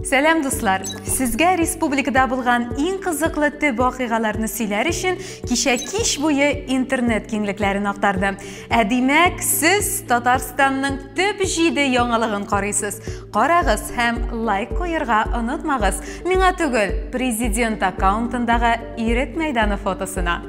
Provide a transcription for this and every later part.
Сәлам дуслар! Сезгә республикада булган иң кызыклы төп вакыйгаларны сөйләр өчен кичә кич буе интернет киңлекләрен актарды. Ә димәк, сез Татарстанның төп җиде яңалыгын карыйсыз. Карагыз һәм лайк куерга онытмагыз. Миңа түгел, президент аккаунтындагы Ирек мәйданы фотосына.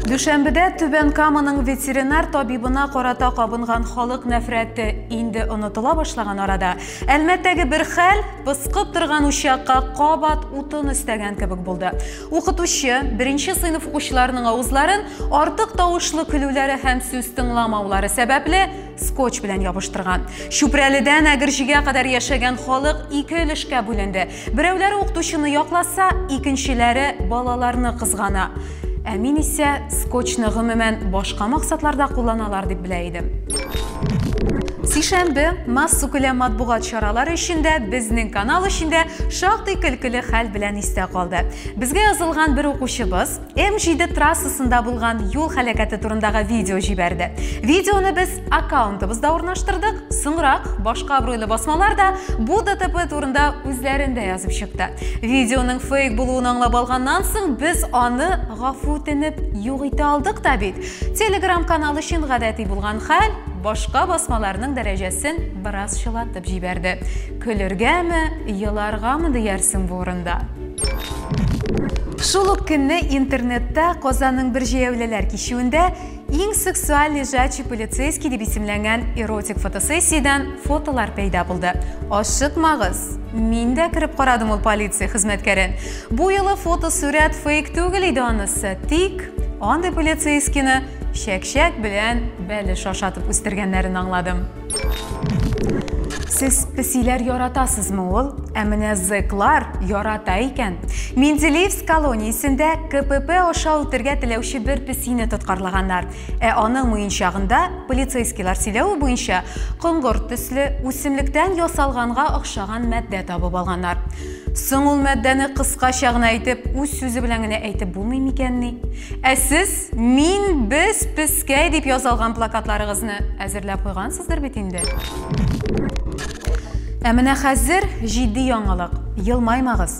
Дүшәмбедә Түбән Каманың ветеринар табибына карата кабынган халык нәфрәте инде онытыла башлаган арада, Әлмәттәге бер хәл пыскып торган учакка кабат утын өстәгән кебек булды. Укытучы беренче сыйныф укучыларының авызларын артык тавышлы көлүләре һәм сүз тыңламаулары сәбәпле скотч белән ябыштырган. Чүпрәледән Әгерҗегә кадәр яшәгән халык ике өлешкә бүленде. Берәүләре укытучыны якласа, икенчеләре балаларны кызгана. Ә мин исә скотчны гомумән башка максатларда кулланалар дип белә идем. Сишәмбе массу күләм матбугат чаралары эчендә безнең канал эчендә шактый көлкеле хәл белән истә калды. Безгә язылган бер укучыбыз М7 трассасында булган юл һәлакәте турындагы видео җибәрде. Видеоны без аккаунтыбызда урнаштырдык. Соңрак башка абруйлы басмалар да бу ДТП турында үзләрендә язып чыкты. Видеоның фейк булуын аңлап алганнан соң без аны гафу үтенеп юк итә алдык та бит. Telegram каналы өчен гадәти булган хәл башка басмаларның дәрәҗәсен бераз чылатып җибәрде. Көлергәме, еларгамы диярсең бу урында. Шул ук көнне интернетта Казанның бер җәяүлеләр кичүендә иң сексуаль лежачий полицейский дип исемләнгән эротик фотосессиядән фотолар пәйда булды. Ашыкмагыз, мин дә кереп карадым ул полиция хезмәткәрен. Бу юлы фотосурәт фейк түгел иде анысы, тик андый полицейскийны чәкчәк белән бәлеш ашатып үстергәннәрен аңладым. Сез песиләр яратасызмы ул? Ә менә зэклар ярата икән. Менделеевск колониясендә КПП аша үтергә теләүче бер песине тоткарлаганнар. Ә аның муенчагында полицейскийлар сөйләве буенча коңгырт төсле үсемлектән ясалганга охшаган матдә табып алганнар. Соң ул мәддәне кыскача гына әйтеп, үз сүзе белән генә әйтеп булмый микәнни? Ә сез мин без пескәй дип язалган плакатларыгызны әзерләп куйгансыздыр бит инде? Ә менә хәзер җитди яңалык. Елмаймагыз.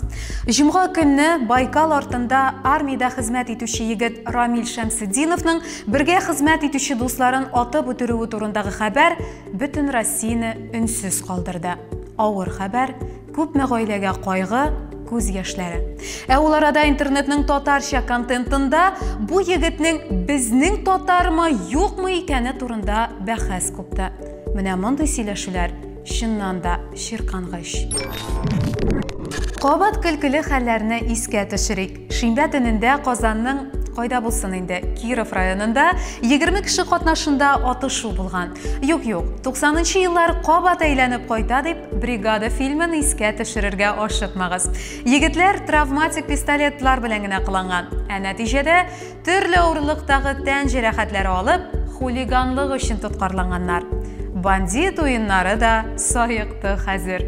Җомга көнне Байкал артында армиядә хезмәт итүче егет Рамил Шәмсетдиновның бергә хезмәт итүче дусларын атып үтерүе турындагы хәбәр бөтен Россияне өнсез калдырды. Авыр хәбәр, Күпме гаиләгә кайгы, күз яшьләре. Ә ул арада интернетның татарча контентында бу егетнең безнең татармы, юкмы икәне турында бәхәс купты. Менә мондый сөйләшүләр чыннан да чиркангыч. Кабат көлкеле хәлләрне искә төшерик. Шимбә төнендә Казанның кайда булсын инде, Киров районында 20 кеше катнашында атышу булган. Юк, юк, 90 еллар кабат әйләнеп кайта дип, бригада фильмын искә төшерергә ашыкмагыз. Егетләр травматик пистолетлар белән генә кыланган. Ә нәтиҗәдә Төрле авырлыктагы тән җәрәхәтләре алып, хулиганлык өчен тоткарланганнар. Бандит уеннары да саекты хәзер.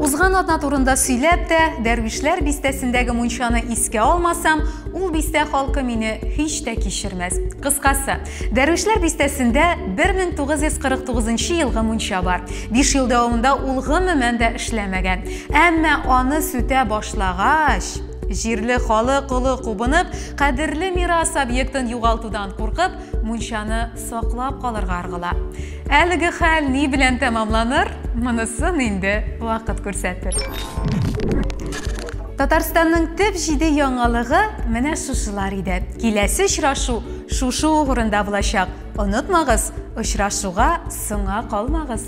Узган атна турында сөйләп тә, Дәрвишләр бистәсендәге мунчаны искә алмасам, ул бистә халкы мине һич тә кичермәс. Кыскасы, Дәрвишләр бистәсендә 1949 елгы мунча бар. Биш ел дәвамында ул гомумән дә эшләмәгән. Әмма аны сүтә башлагач, Җирле халык олы кубынып, кадерле мирас объектын югалтудан куркып, мунчаны саклап калырга аргыла. Әлеге хәл ни белән тәмамланыр, монысын инде вакыт күрсәтер. Татарстанның төп җиде яңалыгы менә шушылар иде. Киләсе очрашу шушы угрында булачак. Онытмагыз, очрашуга соңа калмагыз.